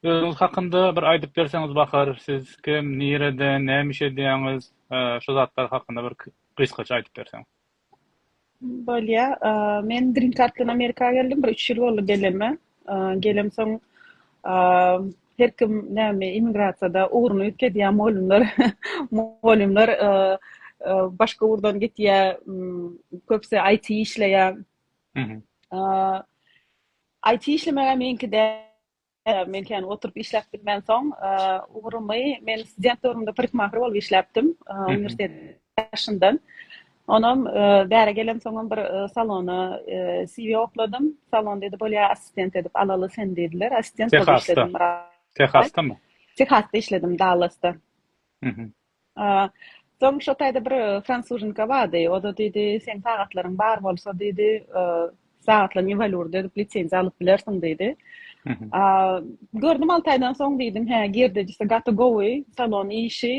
Özüňiz hakynda bir aýdyp berseňiz bahar, siz kim, nirede, näme iş edýäňiz, şu zatlar hakynda bir gysgaça aýdyp berseň. Bolýa. Men Green Card bilen Amerika geldim. Bir üç ýyl boldy gelenime. Gelemsoň her kim näme immigrasiýada ugruny üýtgedýär mugallymlar. Mugallymlar başga ugurdan gitýär. Köpüsi IT işleýär. IT işlemäge meňki däl. Men kän oturyp işläp bilmän soň, ugrumy men student döwrümde parikmahir bolup işläpdim, uniwersitet ýaşyndan. Onam bäri gelemsoňam bir salona CV okladym. Salon diýdi, Bolýa, assistent edip alaly seni diýdiler. Assistent bolup işledim bir aý. Tehasda? Tehasdamy? Tehasda işledim, Dallasda. Soň şo taýda bir fransuzinka bardy. O-da diýdi, Seň sagatlaryň bar bolsa, diýdi, sagatlaň iwalýurda edip lisenziýa alyp bilersiň, diýdi. Gördüm alty aýdan soň diýdim, Hä, girdejisi gaty gowy, salon işi,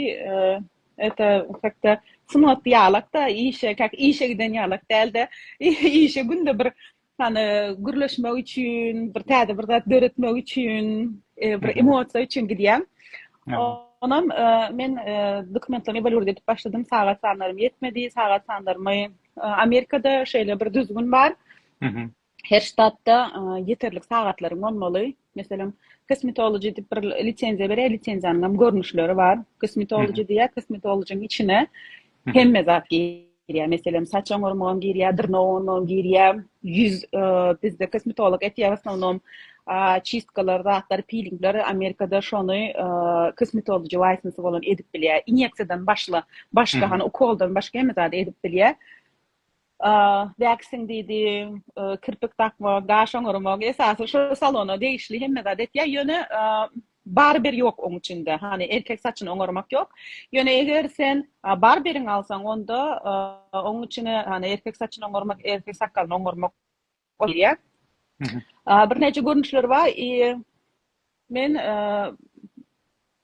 ete, hek-de, sungat ýalak-da, işe, käk, işe giden ýalak däl-de, işe günde bir Hany gürleşmek üçin, bir täze bir zat döretmek üçin, e, bir emosiýa üçin gidýän. Onam e, men e, dokumentlerimi bolurda edip başladym. Sagat sanlarym ýetmedi. Sagat sanlarymy e, Amerikada şeýle bir düzgün bar. Her ştatda e, ýeterlik sagatlaryň bolmaly. Meselem, kosmetologiýa diýip bir lisenziýa berýär, lisenziýanyň hem görnüşleri bar. Kosmetologiýa diýýär, kosmetologiýanyň içine hemme zat giýýär. girýär. Meselem, saç oňarmagam girýär, dyrnak oňarmagam girýär. Ýüz bizde kosmetolog etýär, osnownom çistkalar, zatlar, pilingler Amerikada şony kosmetology waýsnsy bolan edip bilýär. Inýeksiýadan başla, başga hany ukoldan başga hemme zady edip bilýär. Waxing diýdi, kirpik dakma, gaş oňarma, esasy şu salona degişli hemme zady etýär. Ýöne Barber ýok oň içinde. Hany erkek saçyny oňarmak ýok. Ýöne eger sen barberiň alsaň onda oň içine hany erkek saçyny oňarmak, erkek sakgalyny oňarmak bolýar. Birnäçe görnüşleri bar. Men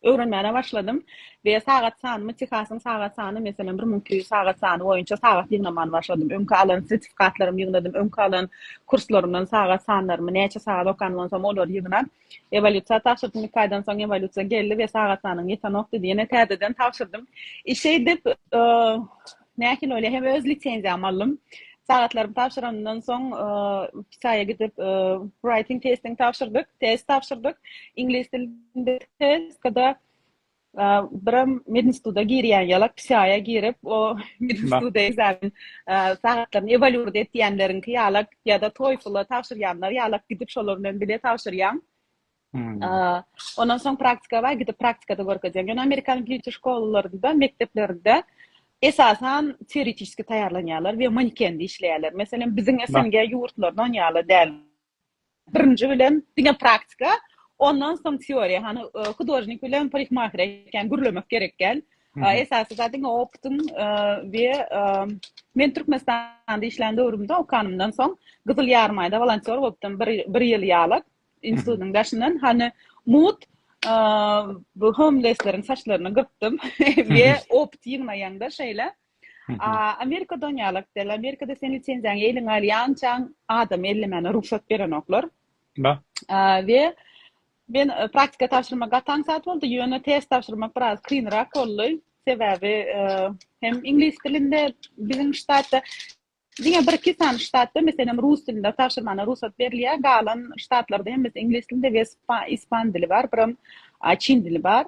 öwrenmäne başladym we sagat sanymy Tehasyň sagat sany meselem 1200 sagat sany boýunça sagat ýygnamany başladym. Öňki alan sertifikatlarymy ýygnadym. Öňki alan kurslarymdan sagat sanlarymy näçe sagat okanymdan soň olary ýygnap Ewolýusiýa tabşyrdym. Iki aýdan soň ewolýusiýa geldi we sagat sanyň ýetenokdy diýenä täzeden tabşyrdym. Şeýdip, näçe ýyl bolýar, hem öz lisenziýamy aldym. Sagatlarymy tabşyranymdan soň Hytaýa gidip writing testini tabşyrdyk, test tabşyrdyk. Iňlis dilinde test, kada Birem medinstituta girýän ýalak pisiaýa girip, o medinstitut ekzamen sagatlaryny ewaluirt etýänleriňki ýalak ýa-da toýfula tabşyrýanlar ýalak gidip şolar bilen bile tabşyrýaň. Ondan soň praktika bar, gidip praktikada görkezýäň. Ýöne amerikan býuji şkolalarynda, mekdeplerinde esasan teoretiski taýýarlanýarlar we manekende işleýärler. Meselem, biziň SNG ýurtlarynda ony ýaly däl. Birinji bilen diňe praktika, ondan soň teoriýa. Hany hudožnik bilen parikmaher ekeni gürlemek gerek däl. Esasy zat diňe opytyň we men Türkmenistanda işlän döwrümde okanymdan soň Gyzyl Ýarmaýda wolontýor bolupdym bir ýyl ýalak institutyň daşyndan. Hany mugt bu homlesleriň saçlaryny gyrpdym we opyt ýygnaýaňda şeýle. Amerika don ýalak däl. Amerikada sen lisenziýaňy eliňe alýançaň adamy ellemäne rugsat berenoklar. Ba. We men e, praktika tabşyrmak gaty aňsat boldy, ýöne test tabşyrmak biraz kynrak boldy. Sebäbi e, hem iňlis dilinde biziň ştatda Diňe bir-iki sany ştatda, meselem, rus dilinde tabşyrmana rugsat berilýär, galan ştatlarda hemmesi iňlis dilinde we ispan dili bar, biram çin dili bar.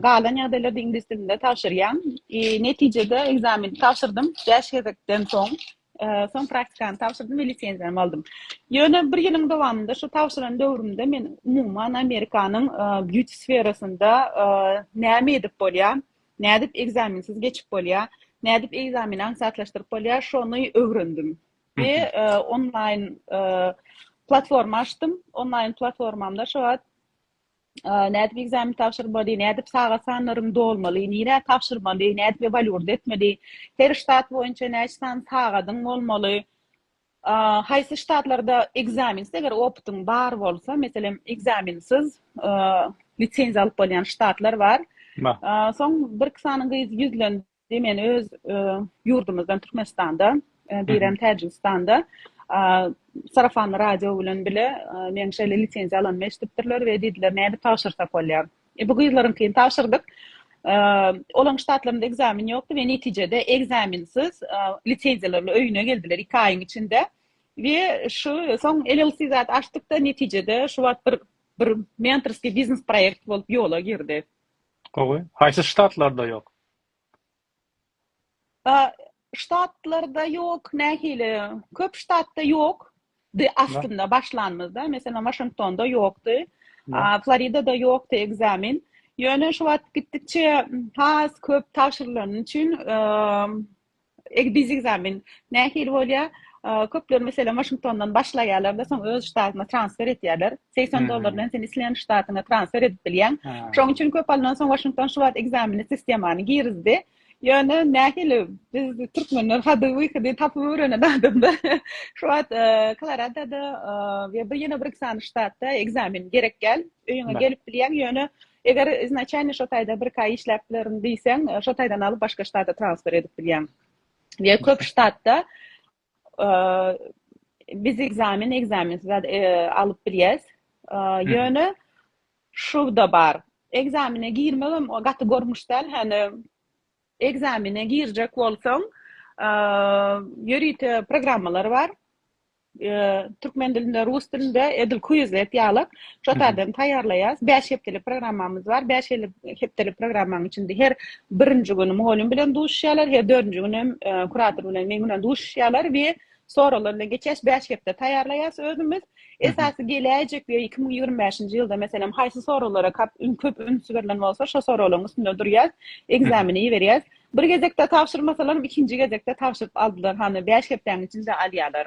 Galan ýagdaýlarda iňlis dilinde tabşyrýan. Netijede ekzameni tabşyrdym, bäş gezekden soň. Soň praktikany tabşyrdym we lisenziýamy aldym. Ýöne bir ýylyň dowamynda, şu tabşyran döwrümde men umuman Amerikanyň býuti sferasynda näme edip bolýar, Nädip ekzamensiz geçip bolýa? Nädip ekzameni aňsatlaşdyryp bolýa? Şony öwrendim. We onlaýn platforma açdym. Onlaýn platformamda şu wagt nädip ekzamen tabşyrmaly, nädip sagat sanlaryny dolmaly, nirä tabşyrmaly, nädip ewaluirde etmeli, her ştat boýunça näçe sany sagadyň bolmaly, Haýsy ştatlarda ekzaminsiz, eger opytyň bar bolsa, meselem, ekzaminsiz lisenziýa alyp bolýan ştatlar bar. Soň birki sany gyz ýüzlendi, men öz ýurdumyzdan Türkmenistanda, birem Täjigistanda sarafanly radio bilen bile meniň şeýle lisenziýa alanymy eşidipdirler we diýdiler, nädip tabşyrsak bolýar? Bu gyzlaryňkyny tabşyrdyk. Olaryň ştatlarynda ekzamen ýokdy we netijede ekzamensiz lisenziýalarly öýüne geldiler iki aýyň içinde. We şu soň LLC zat açdykda netijede şu wagt bir bir mentorskiý biznes proýekt bolup ýola girdi. Gowy. Haýsy ştatlarda ýok? Ştatlarda ýok, nähili? Köp ştatda ýok. Di aslynda başlanymyzda, meselem, Waşingtonda ýokdy. Floridada ýokdy ekzamen. Ýöne şu wagt gitdikçe has köp tabşyrylany üçin biz ekzamen nähili bolýar? Köpler meselem Waşingtondan başlaýarlar-da, soň öz ştatyna transfer etýärler. Segsen dollar bilen sen isleýän ştatyňa transfer edip bilýäň. Şonuň üçin köp alnan soň Waşington şu wagt ekzameni sistemany girizdi. Ýöne nähili biz türkmenler hady wyhady tapyp öwrenen adamlar şu wagt Koloradoda we bir ýene bir iki sany ştatda ekzamen gerek däl. Öýüňe gelip bilýäň. Ýöne eger iznaçalny şo taýda bir iki aý işläp bilerin diýseň, şo taýdan alyp başga ştata transfer edip bilýäň. Ýa köp ştatda Biz ekzamen, ekzamensiz zat alyp bilýäs. Ýöne şuwda bar. Ekzamene girmegem o gaty görmüş däl, hany ekzamene girjek bolsaň, ýörite programmalar bar. Türkmen dilinde, rus dilinde edil kuizlet ýalak. Şo taýdan taýýarlaýarys. Bäş hepdelik programmamyz bar. Bäş hepdelik programmaň içinde her birinji güni mugallym bilen duşuşýarlar, her dördünji güni hem e, kurator bilen men bilen duşuşýarlar we soraglar bilen geçýäs. Bäş hepde taýýarlaýarys özümiz. Esasy geläýjek we 2025-nji ýylda meselem haýsy soraglara köp ün köp üns berlen bolsa, şo soraglaryň üstünde durýas, ekzameni iberýäs. Bir gezekde tabşyrmasalar, ikinji gezekde tabşyryp aldylar. Hany 5 hepdäň içinde alýarlar.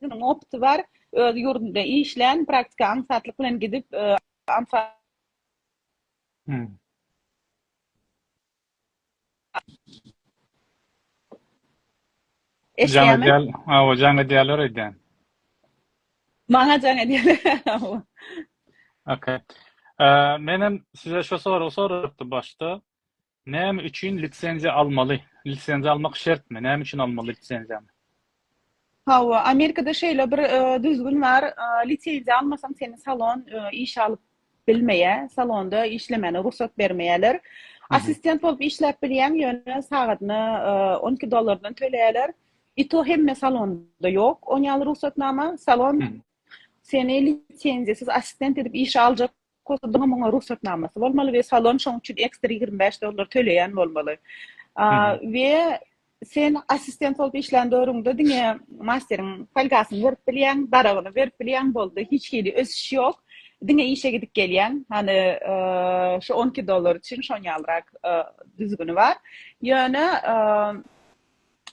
Munuň opty bar, öz ýurdunda işlän, praktika aňsatlyk bilen gidip, aňsat. Eşidýämi? Jaň edýär, hawa, jaň edýärler öýdýän. Maňa jaň edýärler, hawa. Okey. Menem size şu soragy sorapdym başda. Näme üçin lisenziýa almaly? Lisenziýa almak şertmi? Näme üçin almaly lisenziýany? Hawa, Amerikada şeýle bir düzgün bar, lisenziýa almasaň seni salon işe alyp bilmeýär, salonda işlemäne rugsat bermeýärler. Assistent bolup işläp bilýäň, ýöne sagadyna on iki dollardan töleýärler. I to hemme salonda ýok, on ýaly rugsatnama, salon seni lisenziýasyz assistent edip işe aljak Kostudyňam oňa rugsatnamasy bolmaly we salon şoň üçin ekstra ýigrimi bäş dollar töleýän bolmaly. We sen assistent bolup işlän döwrüňde diňe masteriň folgasyny berip bilýäň, daragyny berip bilýäň boldy. Hiç hili ösüş ýok. Diňe işe gidip gelýäň. Hany şu on iki dollar üçin şoň ýalyrak düzgüni bar. Ýöne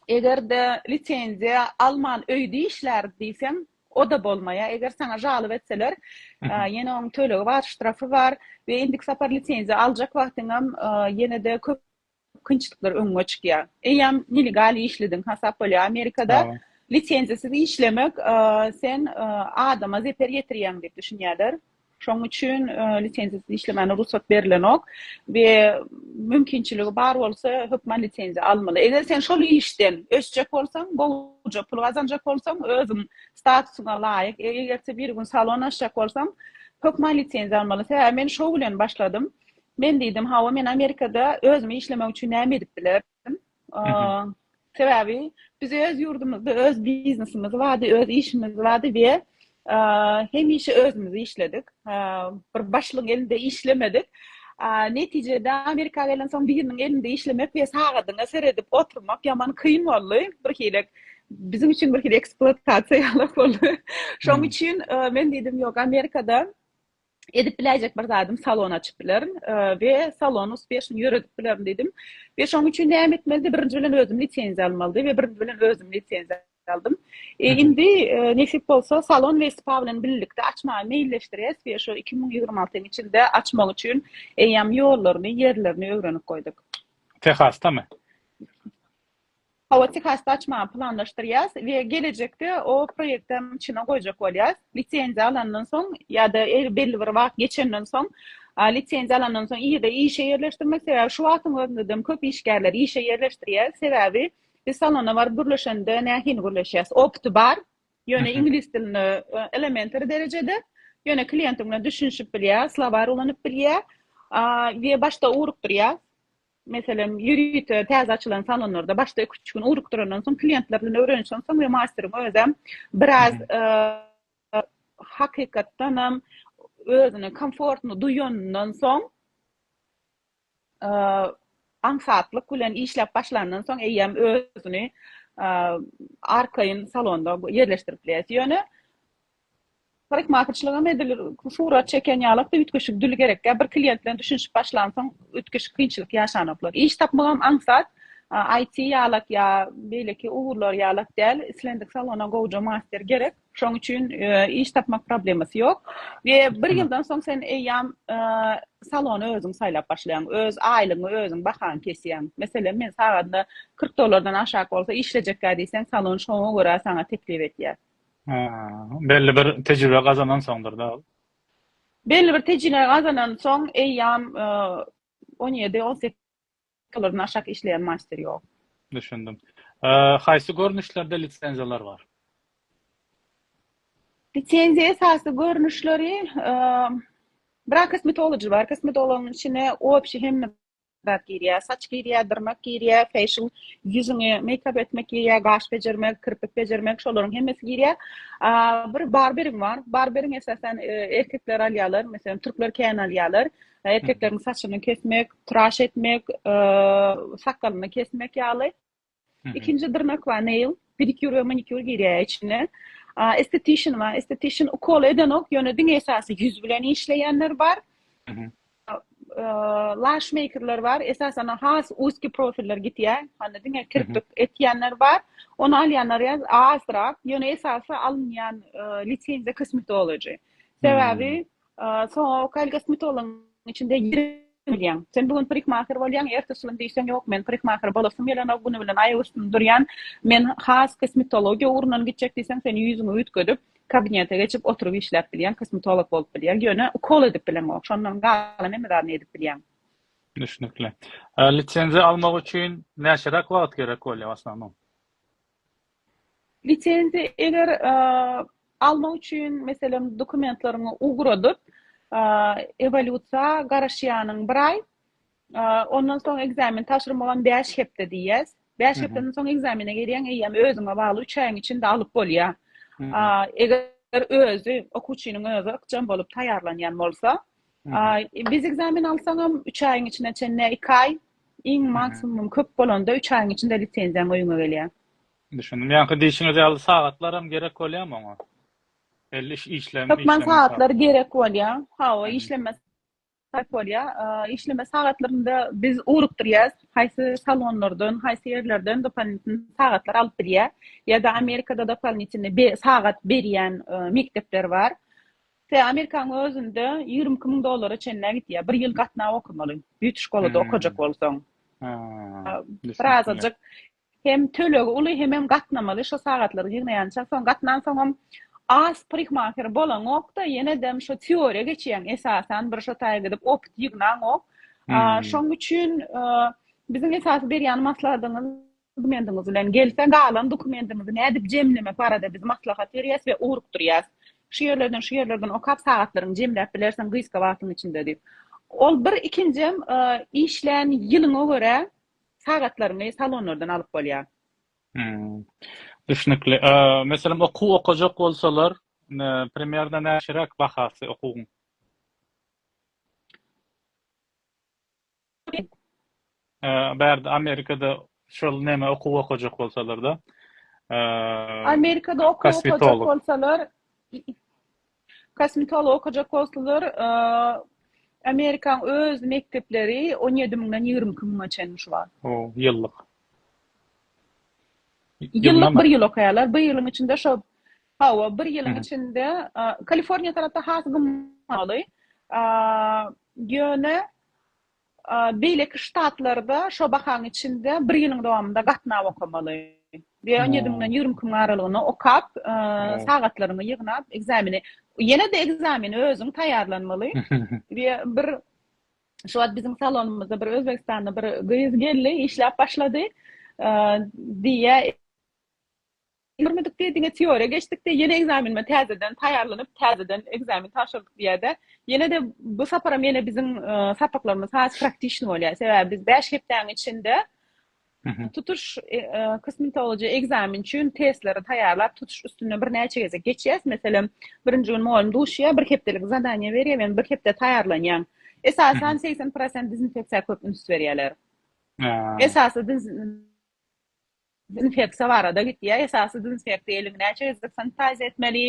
eger-de lisenziýa alman öýde işläris diýseň, O-da bolmaýar. Eger saňa žalyp etseler, ýene onuň tölegi bar, ştrafy bar we indiki sapar lisenziýa aljak wagtyňam ýene-de köp kynçylyklar öňüňe çykýar. Eýýäm nelegal işlediň hasap bolýar. Amerikada lisenziýasyz işlemek, sen adama zeper ýetirýäň diýip düşünýärler. Şonuň üçin lisenziýasyz işlemäne rugsat berilenok we mümkinçiligi bar bolsa, hökman lisenziýa almaly. Eger sen şol işden ösjek bolsaň, gowuja pul gazanjak bolsaň, özüň statusyňa laýyk, eger-de bir gün salon açjak bolsaň, hökman lisenziýa almaly. Sebäbi men şou bilen başladym. Men diýdim, Hawa, men Amerikada özüme işlemek üçin näme edip bilerin? Sebäbi biz öz ýurdumyzda öz biznesimiz bardy, öz işimiz bardy we hemişe özümiz işledik. Bir başlygyň elinde işlemedik. Netijede Amerika gelen soň biriniň elinde işlemek we sagadyňa seredip oturmak ýaman kyn boldy. Bir hili biziň üçin bir hili ekspluatasiýa ýaly boldy. Şoň üçin men diýdim, ýok, Amerikada edip biläýjek bir zadym salon açyp bilerin we salon uspieşno ýöredip bilerin diýdim we şoň üçin näme etmelidi birinji bilen özüm lisenziýa almalydy we birinji bilen özüm lisenziýa aldym indi nesip bolsa salon we spa bilen birlikde açmagy meýilleşdirýäs we şu iki müň ýigrimi altynyň içinde açmak üçin eýýäm ýollaryny ýerlerini öwrenip goýduk tehastamy Hawa, TKS-de açmagy planlaşdyrýas we gelejekde o proýekti hem içine goýjak bolýas. Lisenziýa alandan soň ýa-da belli bir wagt geçenden soň, lisenziýa alandan soň ýa-da işe ýerleşdirmek, sebäbi şu wagtyň özünde hem köp işgärleri işe ýerleşdirýäs, sebäbi biz salona baryp gürleşende nähili gürleşýäs, opty bar, ýöne iňlis dilinde elementary derejede, ýöne kliýentiň bilen düşünişip bilýär, slowarý ulanyp bilýär we başda ugrukdyrýas. Meselem, ýörite täze açylan salonlarda başda iki-üç gün ugrukdyrandan soň, kliýentler bilen öwrenişen soň we masteriň özem biraz hakykatdan hem özüni komfortno duýanyndan soň, aňsatlyk bilen işläp başlandan soň eýýäm özüni arkaýyn salonda ýerleşdirip bilýär. Ýöne Parikmahyçlygam edilir, surat çeken ýalakda üýtgeşik dül gerekkä, bir klient bilen düşünişip başlansoň üýtgeşik kynçylyk ýaşanoklar. Iş tapmagam aňsat, IT ýalak ýa beýleki ugurlar ýalak däl, islendik salona gowja master gerek, şoň üçin iş tapmak problemasy ýok we bir ýyldan soň sen eýýam salony özüň saýlap başlaýaň, öz aýlygyňy özüň bahaň kesýäň. Meselem, men sagadyna kyrk dollardan aşak bolsa işlejekkä diýseň salon şoňa görä saňa teklip edýär. Belli bir tejribe gazanan soňdur da ol. Belli bir tejine gazanan soň eýýam on ýedi, on sekiz ýyldan aşak işleýän master ýok. Düşündim. Haýsy görnüşlerde lisenziýalar bar? Lisenziýa esasy görnüşleri bir kosmetology bar. Kosmetologyň içine obşi hemme zat girýär. Saç girýär, dyrnak girýär, fashion, ýüzüňe meýkap etmek girýär, gaş bejermek, kirpik bejermek, şolaryň hemmesi girýär. Bir barberiň bar. Barberiň esasan e, erkekler alýarlar, meselem türkler kän alýarlar. Erkekleriň saçyny kesmek, traş etmek, e, sakgalyny kesmek ýaly. Ikinji dyrnak bar nail, pedikýur we manikýur girýär içine. Estetişin bar, estetişin ukol edenok, ýöne diňe esasy ýüz bilen işleýänler bar. Lash makerler bar, esasan has uski profiller gitýär, hany diňe kirpik etýänler bar. Ony alýanlar ýa azrak, ýöne esasy alynýan lisenziýa kosmetology. Sebäbi Soňa Kyle Gasmitolyň içinde bilýän. Sen bu gün parikmaher bolýaň, ertesi gün diýseň ýok, men parikmaher bolasym gelenok, güni bilen aýak üstünde durýan. Men has kosmetologiýa ugrundan gitjek diýseň, sen ýüzüňi üýtgedip, kabinete geçip oturyp işläp bilýäň, kosmetolog bolup bilýäň. Ýöne ukol edip bileňok. Şondan galan hemme zadyny edip bilýäň. Düşnükli. Lisenziýa almak üçin näçeräk wagt gerek bolýar, w asnownom? Lisenziýa eger almak üçin meselem dokumentleriňi ugradyp, ewolýusiýa garaşýanyň bir aý, ondan soň ekzamen tabşyrmagam bäş hepde diýýäs. Bäş hepdeden soň ekzamene girýäň, eýýäm özüňe bagly üç aýyň içinde alyp bolýar. Eger özi, okuwçynyň özi ykjam bolup taýýarlanýan bolsa, biz ekzamen alsaňam üç aýyň içine çenli, iki aý, Iň maksimum köp bolanda üç aýyň içinde lisenziýaň öýüňe gelýär. Düşündim. Ýaňky diýşiňiz ýaly sagatlaram gerek bolýamy oňa? Belli iş işlem Hökman sagatlar gerek bolýar. Hawa, işleme sarp bolýar. Işleme sagatlarynda biz ugrukdyrýas. Haýsy salonlardan, haýsy ýerlerden dopolitn sagatlar alyp bilýär. Ýa-da Amerikada dopolitn sagat berýän mekdepler bar. Tä Amerikanyň özünde ýigrimi iki müň dollara çenlä gidýär. Bir ýyl gatnaw okamaly. Beauty şkolada okajak bolsaň. Bir azajyk hem tölegi uly hemem gatnamaly şo sagatlary ýygnaýança. Soň gatnansoňam az parikmaher bolaňok-da, ýene-de şo teoriýa geçýäň esasan, bir şo taýa gidip opyt ýygnaňok. Şoň üçin biziň esasy berýän maslahatymyz, Dokumentiňiz bilen gelse, galan dokumendiňizi nädip jemlemek barada biz maslahat berýäs we ugrukdyrýas. Şu ýerlerden, şu ýerlerden okap sagatlaryňy jemläp bilersiň gysga wagtyň içinde diýip. Ol bir ikinjem işlän ýylyňa görä sagatlaryňy salonlardan alyp bolýar. Hum. Düşnükli. Meselem okuw okajak bolsalar, primerna näçeräk bahasy okuwyň? Gyz bärde Amerikada şol neme okuw okajak bolsalarda. Amerikada okuw okajak bolsalar kosmetolog okajak bolsalar Amerikaň öz mekdepleri 17 müňden 22 müňe çenli şu wagt. O, ýyllyk. Ýyllyk bir ýyl okaýarlar. Bir ýylyň içinde şo hawa, bir ýylyň içinde Kaliforniýa tarapda has gymmatly. Ýöne Beýleki ştatlarda şo bahaň içinde bir ýylyň dowamynda gatnap okamaly. Diýe on ýedi müňden ýigrimi iki müň aralygynda okap, sagatlaryňy ýygnap, ekzameni, ýene-de ekzameni özüň taýýarlanmaly. Diýe bir şo wagt biziň salonymyzda bir özbegistanly bir gyz geldi, işläp başlady. Diýe. Görmedikde diňe teoriýa geçdikde ýene ekzamenime täzeden taýýarlanyp täzeden ekzamen tabşyrdyk diýädä ýenede bu saparam ýene biziň sapaklarymyz has praktişni bolýar sebäbi biz bäş hepdäň içinde tutuş kosmetologiýa ekzamen üçin testleri taýýarlap tutuş üstünden birnäçe gezek geçýäs meselem birinji gün mugallym duşýar bir hepdelik zadaniýa berýär men bir hepde taýýarlanýan esasan segsen prosent dezinfeksiýa köp üns berýärler esasy Dezinfeksiýa barada gitýär. Esasy dezinfeksiýa eliňi näçe gezek sanitaziýa etmeli,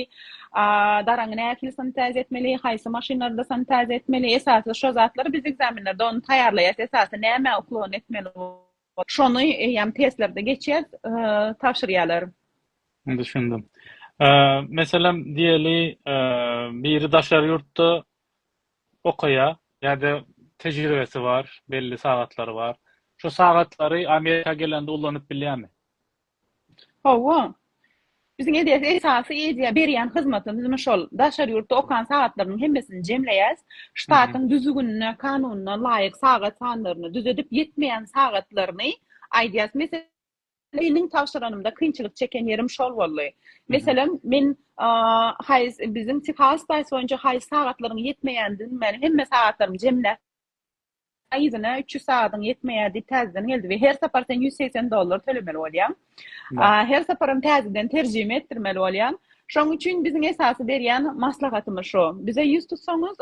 daraňy nähili sanitaziýa etmeli, haýsy maşynlarda sanitaziýa etmeli, esasy şo zatlar biz ekzamenlerde ony taýýarlaýas, esasy nämä uklon etmeli bolup, şony eýýäm testlerde geçýäs, tabşyrýarlar. Düşündim. Meselem diýeli biri daşary ýurtda okaýar ýa-da tejribesi bar, belli sagatlary bar. Şu sagatlary Amerika gelende ulanyp bilýärmi? Hawa. Biziň edýän esasy edýän, berýän hyzmatymyz muny şol. Daşary ýurtda okan sagatlarynyň hemmesini jemleýäs. Ştatyň düzgünine, kanunyna laýyk sagat sanlaryny düzedip, ýetmeýän sagatlaryny aýdýas. Meselem. Meniň tabşyranymda kynçylyk çeken ýerim şol boldy. Meselem, men haýs biziň Texas Spice boýunça haýs sagatlaryň ýetmeýändigini meni hemme sagatlarymy jemläp aýyna 300 sagadyň ýetmeýär diýip täzeden geldi we her sapar sen 180 dollar tölemeli bolýaň. Her saparam täzeden terjime etdirmeli bolýaň. Şoň üçin biziň esasy berýän maslahatymyz şo. Bize ýüz tutsaňyz,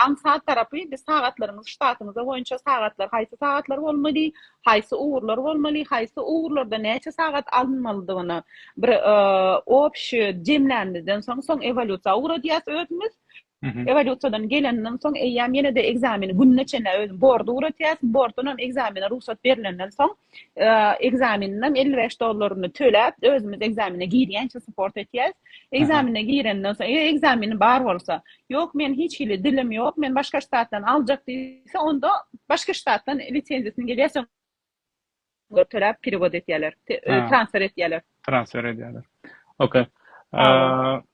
aňsat tarapy biz sagatlaryňyzy ştatyňyza boýunça sagatlar haýsy sagatlar bolmaly, haýsy ugurlar bolmaly, haýsy ugurlarda näçe sagat alynmalydygyny bir obşi jemlänimizden soň, soň ewolýusiýa ugradýas özümiz. Ewalusiýadan geleninden soň eýýäm ýene-de ekzameni gününe çenli özüň bordy ugratýarsyň, borddan hem ekzamene rugsat berlenden soň ekzameniňem elli bäş dollaryny töläp özümiz ekzamene girýänçä support etýäs. Ekzamene girenden soň eger ekzameni bar bolsa, ýok men hiç hili dilim ýok, men başga ştatdan aljak diýse onda başga ştatdan lisenziýasyny gelýär soň Töläp perewod etýärler. Transfer etýärler. Transfer edýärler. Ok.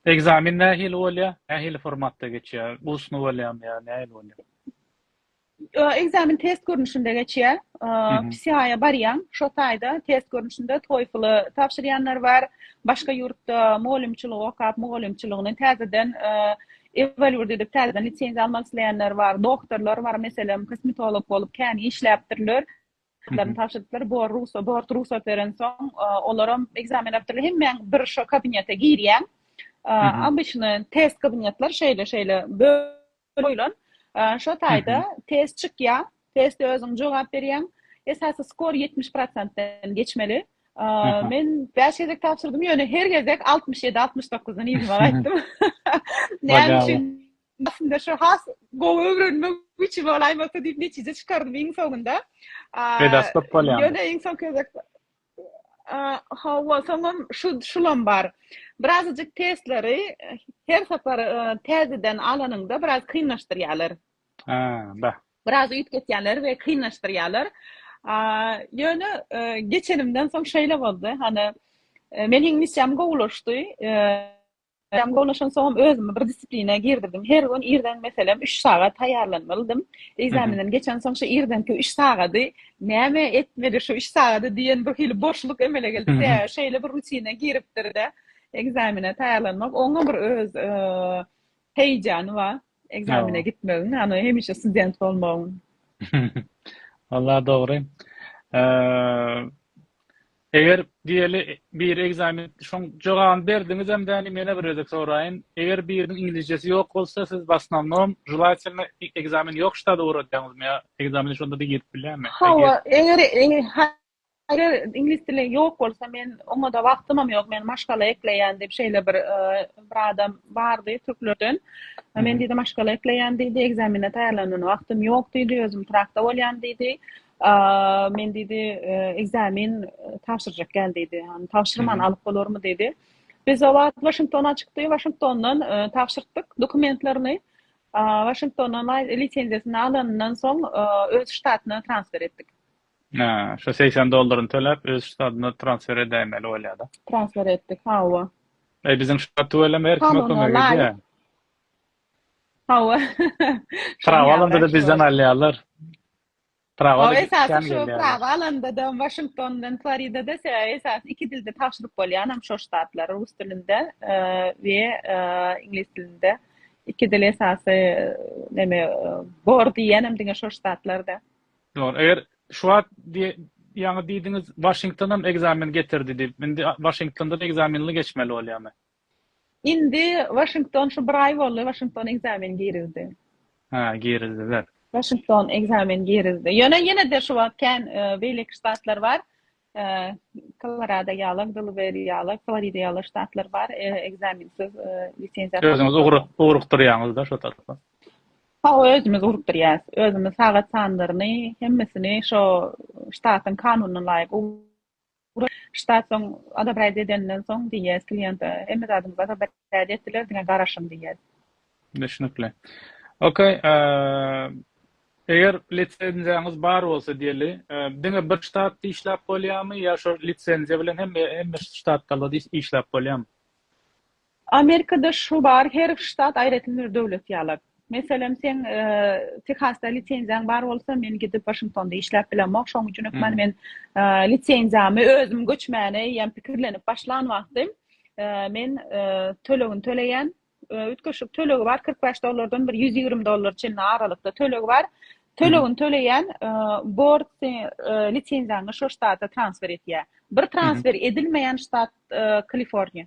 Ekzamen nähili bolýar? Nähili formatda geçýär? Ustny bolýarmy ýa nähili bolýar? Ekzamen test görnüşinde geçýär. PCA-a barýaň, şo taýda test görnüşinde TOEFL-y tabşyrýanlar bar. Başga ýurtda mugallymçylygy okap, mugallymçylygyny täzeden Evelwürdi edip täzeden lisenziýa almak isleýänler bar, doktorlar bar, meselem, kosmetolog bolup kän işläpdirler, laryny tabşyrypdyr, bor rugsat, bort rugsat berensoň, olaram ekzamen beripdirler, hemmäň bir şo kabinete girýäň, obyçny test kabinetler şeýle-şeýle bölüp goýlan, şo taýda test çykýar, Teste özüň jogap berýäň. Esasy skor 70 prosentden geçmeli. Men 5 gezek tabşyrdym, ýöne her gezek 67-69-dan ýüzüme gaýtdym. Näme üçin? Aslynda şu has gowy öwrenmek üçin bolaýmasa diýip netije çykardym iň soňunda. Pedas köp bolýar. Ýöne iň soňky gezek Hawa, soňam şu şulam bar. Birazajyk testleri her sapar täzeden alanyňda biraz kynlaşdyrýarlar. biraz üýtgetýärler we kynlaşdyrýarlar. Ýöne geçenimden soň şeýle boldy, hany men hiň missiýam gowulaşdy, missiýam gowulaşan soňam özümi bir disiplinä girdirdim, her gün irden meselem üç sagat taýýarlanmalydym, ekzamenden geçensoň şu irdenki üç sagady näme etmeli şu üç sagady diýen bir hili boşluk emele geldi, sebäbi şeýle bir rutina giripdir-de ekzamene taýýarlanmak, oňa bir öz Heýjany bar ekzamene gitmegiň, ony hemişe student bolmagyň. Walla dogry. Eger diýeli bir ekzamen şoň jogabyny berdiňizem däli mena bir gezek soraýyn. Eger biriniň iňlisçesi ýok bolsa siz basnownom želatelno ekzamen ýok ştada uradýaňyzmy ýa ekzameni şonda-da girip bilýärmi? Hawa, eger Eger iňlis dili ýok bolsa, men oňa-da wagtymam ýok, men maşgala ekleýän diýip, şeýle bir bir adam bardy türklerden. Men diýdi, maşgala ekleýän diýdi, ekzamene taýýarlanana wagtym ýok diýdi, özüm Pragda bolýan diýdi. Men diýdi, ekzamen tabşyrjak gel diýdi. Ýagny tabşyrman alyp bolarmy diýdi. Biz o wagt Waşingtona çykdy, Waşingtondan tabşyrtdyk dokumentlerini. Waşingtondan lisenziýasyny alanyndan soň öz ştatyna transfer etdik. Şu segsen dollaryny töläp öz ştadyna transfer edäýmeli bolýada. Transfer etdik hawa. Eý biziň ştat tüweleme her kime kömek edýä. Hawa. Prawa alanda-da bizden alýarlar. Prawa da esasy şu prawa alanda-da Waşingtondan Floridada sebäbi esasy iki dilde tabşyryp bolýanam şo ştatlara rus dilinde we iňlis dilinde iki dil esasy neme bor diýýänem diňe şo ştatlarda. Dogry. Eger şu wagt ýaňy diýdiňiz Waşingtonam ekzamen getirdi diýip, indi Waşingtondan ekzamenli geçmeli bolýamy? Indi Waşington şu bir aý boldy, Waşington ekzamen girizdi. Hä, girizdiler. Waşington ekzamen girizdi. Ýöne ýene-de şu wagt kän beýleki ştatlar bar. Kolorado ýaly, Delaware ýaly, Florida ýaly ştatlar bar, ekzamensiz lisenziýa. Özüňiz ugrukdyrýaňyz-da şo tarapa? Hawa, özümiz ugrukdyrýas. Özümiz sagat sanlaryny, hemmesini şo ştatyň kanunyna laýyk ugrukdyrýas. Ştat soň odobraýt edenden soň, DEA kliente hemme zadyňyzy odobraýt. Täze etdiler diňe garaşyň diýýär. Düşnükli. Ok. Eger lisenziýaňyz bar bolsa diýeli, diňe bir ştatda işläp bolýarmy ýa şo lisenziýa bilen hemme ştatlarda işläp bolýarmy? Amerikada şu bar, her ştat aýratyn bir döwlet ýaly. Meselem, seň Tehasda lisenziýaň bar bolsa, men gidip Waşingtonda işläp bilemok. Şoň üçin hökman men lisenziýamy özüm göçmäne eýýäm pikirlenip başlan wagtym, men tölegini töleýän. Üýtgeşik tölegi bar, kyrk bäş dollardan bir ýüz ýigrimi dollara çenli aralykda tölegi bar. Tölegini töleýän, bord lisenziýaňy şo ştata transfer etýär. Bir transfer edilmeýän ştat Kaliforniýa.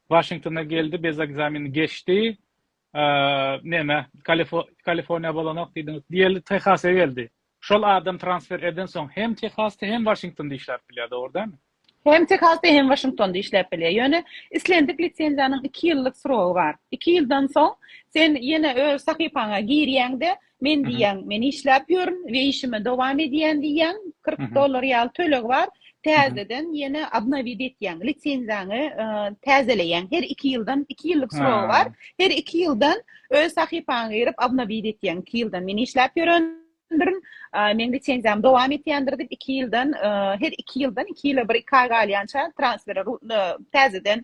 Waşingtona geldi biz ekzameni geçdi neme kaliforniýa bolanok diýdiňiz diýeli tehasa geldi şol adam transfer eden soň hem tehasda hem waşingtonda işläp bilýär dogry dälmi? Hem tehasda hem waşingtonda işläp bilýär ýöne islendik lisenziýanyň iki ýyllyk srogy bar iki ýyldan soň sen ýene öz sahypaňa girýäňde Men diýýän, men işläp ýörün we işime dowam edýän diýýän, kyrk dollar ýaly töleg bar, täzeden ýene obnowit etýäň, lisenziýaňy täzeleýäň, her iki ýyldan, iki ýyllyk srogy bar, her iki ýyldan öz sahypaňa girip obnowit etýäň, iki ýyldan men işläp ýören dirin, meň lisenziýam dowam etýändir diýip, iki ýyldan, her iki ýyldan, iki ýyla bir, iki aý galýança transfere, täzeden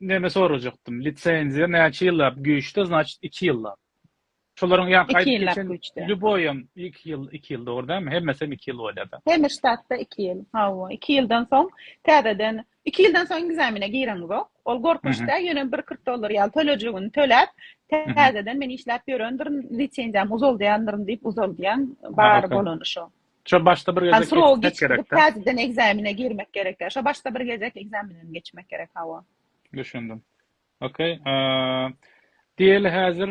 Neme sorajakdym lisenziýa näçe ýyllap güýçde znaçt iki ýyllap şolaryň ýa gaýdyp geçen lýuboýam iki ýyl iki ýyl dogry dälmi hemmesem iki ýyl bolýada hemme ştatda iki ýyl hawa iki ýyldan soň täzeden iki ýyldan soň ekzamene gireňizok ol gorkunç däl ýöne bir kyrk dollar ýaly tölejigini töläp täzeden men işläp ýörendirin lisenziýamy uzaldýandyryn diýip uzaldýaň bar bolany şo Şo başda bir gezek geçmek gerek. Täzeden ekzamene girmek gerek. Şo başda bir gezek ekzamenden geçmek gerek hawa. Düşündim. Okey. Diýeli häzir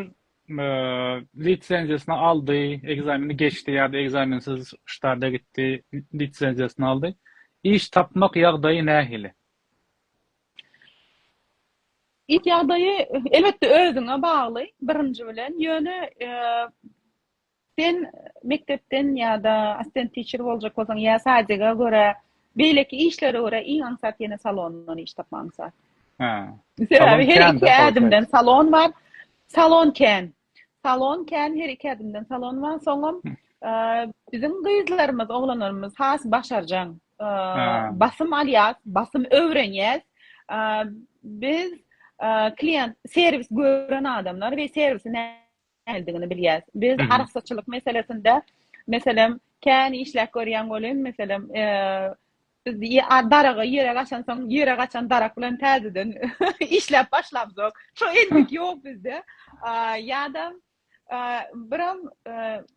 lisenziýasyny aldy, ekzameni geçdi ýa-da ekzamensiz ştada gitdi, lisenziýasyny aldy. Iş tapmak ýagdaýy nähili? Iş ýagdaýy elbetde özüňe bagly birinji bilen. Ýöne Sen mekdepden ýa-da assistent teacher boljak bolsaň ýa sadjega görä beýleki işlere görä iň aňsat ýene salondan iş tapmak aňsat. Hä. Sebäbi her iki ädimden salon bar. Salon kän. Salon kän her iki ädimden salon bar. Soňam biziň gyzlarymyz, oglanlarymyz has başarjaň. Basym alýas, basym öwrenýäs. Biz klient serwis gören adamlar we serwisi nämedigini bilýäs. Biz arassaçylyk meselesinde, meselem, kän işläp görýän welin, meselem, biz daraga ýere gaçansoň, ýere gaçan darak bilen täzeden işläp başlamzok. Şo endik ýok bizde. Ýa-da biram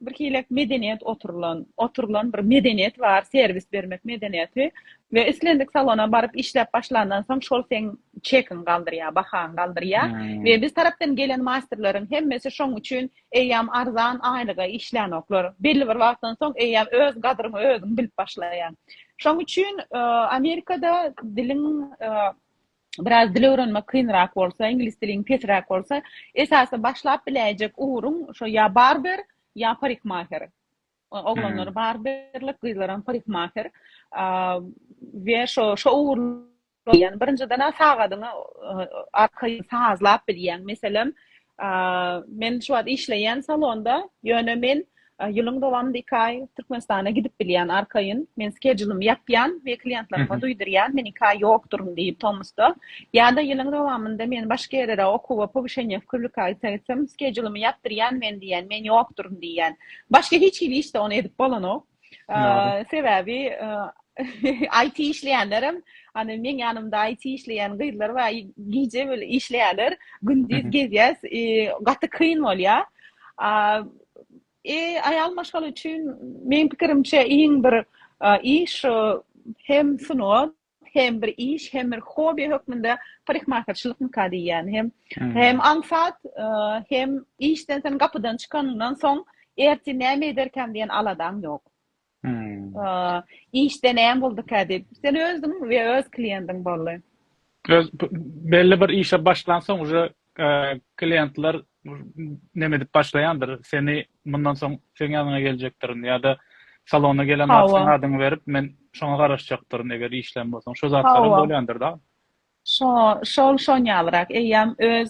birhilek medeniýet oturylan, oturylan bir medeniýet bar, serwis bermek medeniýeti we islendik salona baryp işläp başlandan soň, şol seň çekiň galdyrýar, bahany galdyrýar we biz tarapdan gelen masterleriň hemmesi şoň üçin eýýäm arzan aýlyga işlänoklar. Belli bir wagtdan soň eýýäm öz gadryňy özüň bilip başlaýaň. Şoň üçin Amerikada diliň biraz dil öwrenmek kynrak bolsa, iňlis diliň pesräk bolsa, esasy başlap biläýjek ugruň şo ýa barber, ýa parikmaher. Oglanlar barberlik, gyzlaram parikmaher we şo şo ugurlar Ýagny birinjiden-ä sagadyňy arkaýyn sazlap bilýäň. Meselem, men şu wagt işleýän salonda, ýöne men ýylyň dowamynda iki aý Türkmenistana gidip bilýän arkaýyn. Men skedjulymy ýapýan we kliýentlerime duýdurýan, men iki aý ýokduryn diýip tomusda. Ýa-da ýylyň dowamynda men başga ýere-de okuwa, powyşeniýa wkywlikaýtsa gitsem, skedjulymy ýapdyrýan men diýýän, men ýokduryn diýýän. Başga hiç hili işde ony edip bolanok. Sebäbi IT işleýänlerem, hany meň ýanymda IT işleýän gyzlar bar, gije bile işleýärler, gündiz gezýäs, gaty kyn bolýar. E, aýal maşgala üçin meň pikirimçe iň bir iş hem sungat, hem bir iş hem bir hobi hökmünde parikmahaçylyk nika diýýän hem hem aňsat hem işden sen gapydan çykanyňdan soň erti näme ederkäm diýen aladaň ýok işde näme boldukä diýip sen özüň we öz kliendiň boldy öz belli bir işe başlansoň uje klientler neme edip başlaýandyr, seni mundan soň seň ýanyňa geljekdirin ýa-da salona gelen wagt seň adyňy berip, men şoňa garaşjakdyryn, eger işlän bolsaň. Şo zatlaram bolýandyr dagy. Şo, şol şon ýalyrak. Eýýäm öz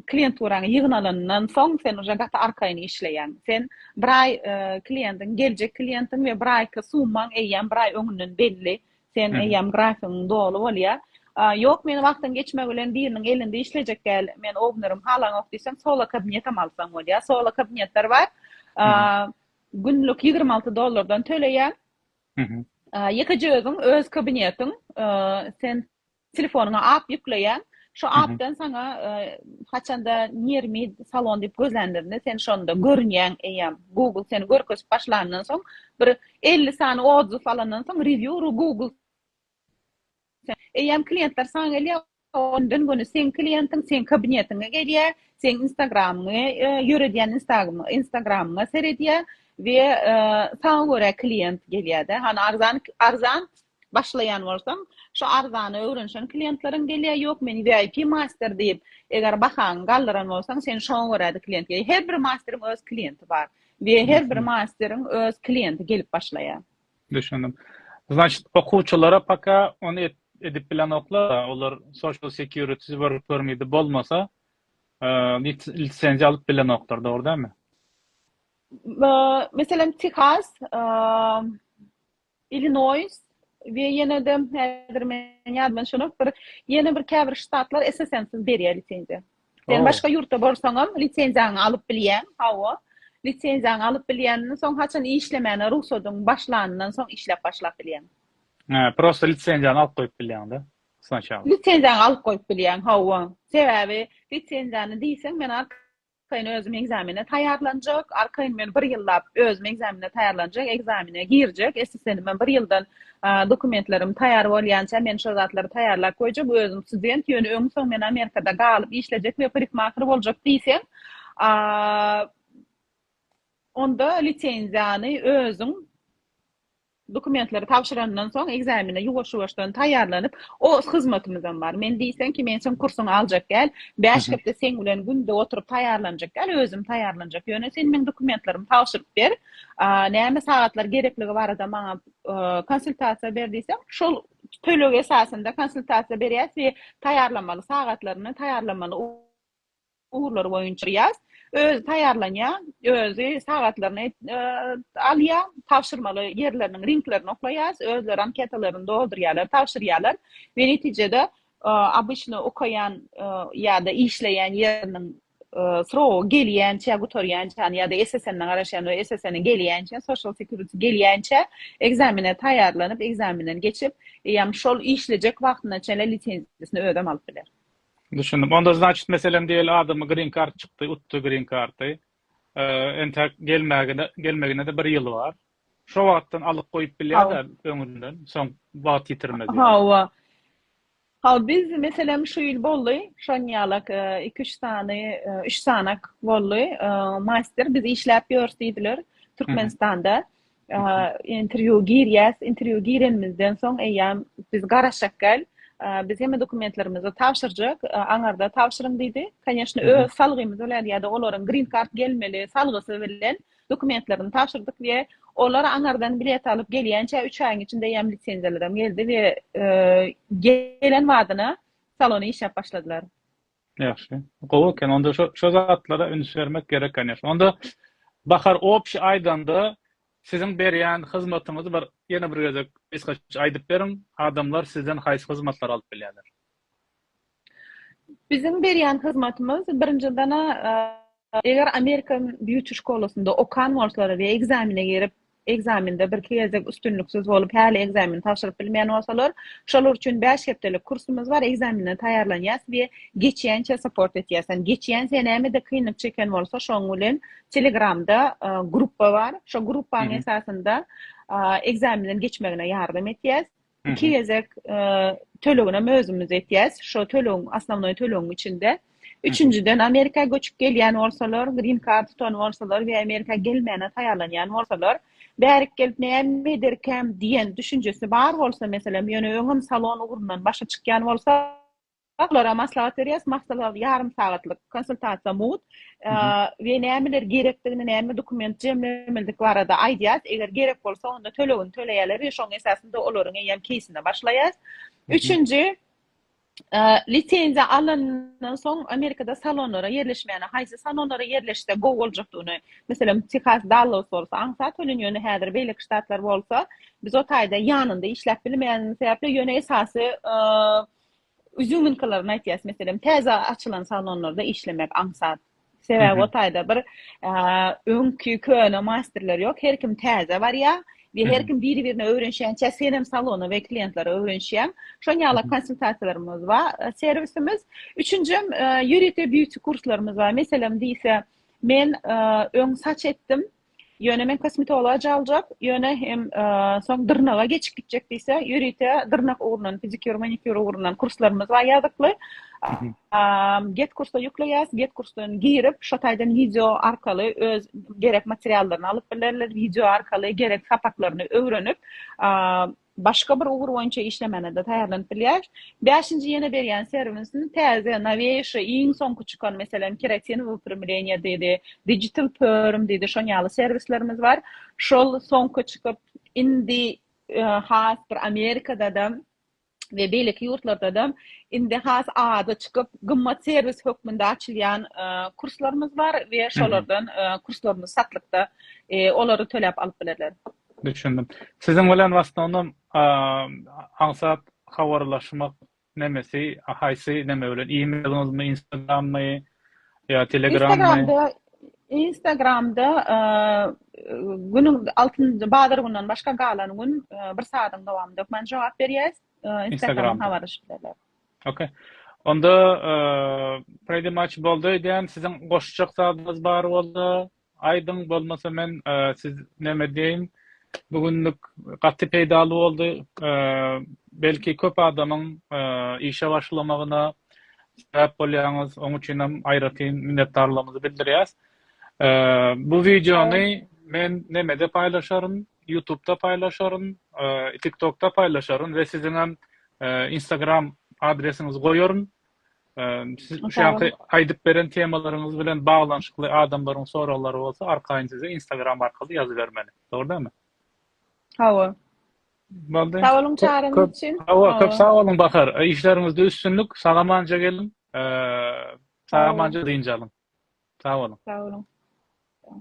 klienturaňy ýygyn alanyndan soň, sen uje gaty arkaýyn işleýäň. Sen bir aý klientiň, geljek klientiň we bir aýky summaň eýýäm bir aý öňünden belli. Sen eýýäm grafigiň doly bolýa. Ýok, men wagtyň geçmegi bilen biriniň elinde işlejek däl. Men owneriň halaňok diýseň, solo kabinetem alsaň bolýa. Solo kabinetler bar. Günlük ýigrimi alty dollardan töleýäň. Ýekeje özüň, öz kabinetiň. Sen Telefonyňa app ýükleýäň. Şo appdan saňa haçanda Nirmi salon diýip gözlänlerinde sen şonda görünýäň eýýäm. Google seni görkezip başlandan soň bir elli sany odzyw alandan soň rewýu ru Google eýýäm kliýentler saňa gelýär. Ony gün-güni seň kliýentiň seň kabinetiňe gelýär. Seň instagramyňy ýöredýän instagramyňa seredýär we saňa görä kliýent gelýär-de. Hany arzan arzan başlaýan bolsaň, şu arzana öwrenişen klientleriň gelýär, ýok men VIP master diýip, eger bahaňy galdyran bolsaň, sen şoňa görä-de klient gelýär. Her bir masteriň öz klienti bar we her bir masteriň öz klienti gelip başlaýar. Düşündim. Znaçt, okuwçylara paka ony edip bilenoklar, olar social security work permit-i bolmasa, lisenziýa alyp bilenoklar, dogry dälmi? Meselem, Tehas, Illinois we ýene-de häzir meniň ýadyma düşenok bir ýene bir käbir ştatlar esasensiz berýär lisenziýa. Sen başga ýurtda bolsaňam lisenziýaňy alyp bilýäň. Hawa. Lisenziýaňy alyp bilýänden soň haçan işlemäne rugsadyň başlanyndan soň işläp başlap bilýäň. Hä, prosta lisenziýany alyp goýup bilýäň-de snaçaly. Lisenziýaňy alyp goýup bilýäň, hawa. Sebäbi lisenziýany diýseň men Arkaýyn özüm ekzamene taýýarlanjak, arkaýyn men bir ýyllap özüm ekzamene taýýarlanjak, ekzamene girjek, SSN-ime bir ýyldan dokumentlerim taýýar bolýança men şol zatlary taýýarlap goýjak, özüm student, ýöne öň-soň men Amerikada galyp işlejek we parikmaher boljak diýseň, onda lisenziýany özüň, Dokumentleri tabşyrandan soň ekzamene ýuwaş-ýuwaşdan taýýarlanyp, os hyzmatymyzam bar. Men diýseň ki, men seň kursuňy aljak däl, bäş hepde seň bilen günde oturyp taýýarlanjak däl, özüm taýýarlanjak. Ýöne sen meň dokumentlerimi tabşyryp ber, näme sagatlar gerekligi barada maňa konsultasiýa ber diýseň, şol töleg esasynda konsultasiýa berýäs we taýýarlamaly sagatlaryny, taýýarlamaly. ugurlary boýunça ýaz. Özi taýýarlanýar, özi sagatlaryny alýar, tabşyrmaly ýerleriniň linklerini oklaýas, özleri anketalaryny doldurýarlar, tabşyrýarlar we netijede obyçny okaýan ýa-da işleýän ýeriniň srogy gelýänçä, gutarýança ýa-da SSN-e garaşýan we SSN-e gelýänçä, Social Security gelýänçä ekzamene taýýarlanyp, ekzamenden geçip, eýýäm şol işlejek wagtyna çenli lisenziýasyny özem alyp biler. Düşündim. Onda znaçit meselem diýeli adamy green kart çykdy, utdy green karty. Entek gelmägine, gelmegine-de bir ýyl bar. Şo wagtdan alyp goýup bilýär-de öňünden, soň wagt ýitirmez. Hawa. Ha biz meselem şu ýyl boldy, şoň ýalak iki-üç sany, üç sanak boldy. Master biz işläp ýörüs diýdiler Türkmenistanda. interwýu girýäs, interwýu girenimizden soň eýýäm biz garaşak gel, biz hemme dokumentlerimizi tabşyrjak, aňarda tabşyryň diýdi. Kanyýeşne öz salgymyz bilen ýa-da olaryň green card gelmeli salgysy bilen dokumentlerini tabşyrdyk we olar aňardan bilet alyp gelýänçä üç aýyň içinde eýýäm lisenziýalarym geldi we gelen badyna salony işläp başladylar. Ýagşy. Gowy eken. Onda şo şo zatlara üns bermek gerek конечно. Onda Bahar obşi aýdanda siziň berýän hyzmatyňyzy bir ýene bir gezek gysgaça aýdyp beriň. Adamlar sizden haýsy hyzmatlary alyp bilýärler? Biziň berýän hyzmatymyz birinjiden-ä eger American Beauty şkolasynda okan bolsalar we ekzamine girip Ekzamende birki gezek üstünliksiz bolup, häli ekzameni tabşyryp bilmeýän bolsalar, şolar üçin bäş hepdelik kursumyz bar, ekzamenden taýýarlanýas we geçýänçä support etýäs. Ýani geçýänçä nämede kynlyk çeken bolsa, şoň bilen Telegramda gruppa bar. Şo gruppanyň esasynda ekzamenden geçmegine ýardam etýäs. iki gezek töleginem özümiz etýäs. Şo tölegiň asnawnoý tölegiň içinde üçünjiden Amerika göçüp gelýän bolsalar, green card tutan bolsalar we Amerika gelmäne taýýarlanýan bolsalar, bärik gelip näme ederkäm diýen düşünjesi bar bolsa, meselem, ýöne öňem salon ugrundan başa çykýan bolsa, Olara maslahat berýäris, maslahat ýarym sagatlyk konsultasiýa mugt we nämeler gerekdigini, näme dokument jemlemelidigi barada aýdýas, eger gerek bolsa onda tölegini töleýärler we şoň esasynda olaryň eýýäm keýsine başlaýas. Üçünji, lisenziýa alandan soň Amerikada salonlara ýerleşmäne, haýsy salonlara ýerleşse gowy boljakdygyny, meselem Tehas, Dallas bolsa aňsat tölenýär, ýöne häzir beýleki ştatlar bolsa biz o taýda ýanynda işläp bilmeýänimiz sebäpli, ýöne esasy Üzüminkilerini aýtýas, meselem, täze açylan salonlarda işlemek aňsat. Sebäbi o taýda bir öňki köne masterler ýok, her kim täze barýar we her kim biri-birine öwrenişýänçä sen hem salona we klientlere öwrenişýäň. Şonuň ýaly konsultasiýalarymyz bar, serwisimiz. Üçünjem ýörite beauty kurslarymyz bar. Meselem diýse, men öň saç etdim, Ýöne men kosmetologa caljak, ýöne hem soň dyrnaga geçip gitjek diýse, ýörite dyrnak ugrundan, pedikýur, manikýur ugrundan kurslarymyz bar ýazykly. Get kursa ýükleýäs, get kursdan girip, şo taýdan wideo arkaly öz gerek materiallaryny alyp bilerler, wideo arkaly gerek sapaklaryny öwrenip, Başga bir ugur boýunça işlemäne-de taýýarlanyp bilýäris. Bäşinji ýene berýän serwisini täze, noweýşe, iň soňky çykan, meselem, Keratin wyprimleniýe diýdi, Digital perm diýdi, şon ýaly serwislerimiz bar. Şol soňky çykyp, indi has bir Amerikada-da we beýleki ýurtlarda-da indi has ady çykyp, gymmat serwis hökmünde açylýan kurslarymyz bar we şolardan kurslarymyz satlykda, olary töläp alyp bilerler. Düşündim. Siziň bilen w asnownom aňsat habarlaşmak nemesi haýsy neme bilen e-mailiňizmi instagrammy ýa telegrammy? Instagramda günüň altynjy bazar günden başga galan gün bir saadyň dowamynda hökman jogap berýäs. Instagram habarlaşypdylar. Okay. Onda pretty much boldy diýen siziň goşjak zadyňyz bar bolsa Aýdyň bolmasa men siz neme diýeýin bu günlük gaty peýdaly boldy belki köp adamyň işe başlamagyna sebäp bolýaňyz oň üçinem aýratyn minnetdarlygymyzy bildirýäs bu wideony men nemede paýlaşaryn ýutubda paýlaşaryn tiktokda paýlaşaryn we siziňem instagram adresiňizi goýaryn Siz şu anki aýdyp beren temalaryňyz bilen baglanyşykly adamlaryň soraglary bolsa, arkaýyn size Instagram arkaly ýazybermeli. Dogry dälmi? Hawa. Boldy. Sag boluň çagyryň üçin. Hawa, köp sag boluň Bahar. Işleriňizde üstünlik, sagamanja geliň. Sagamanja dynç alyň. Sag boluň. Sag boluň.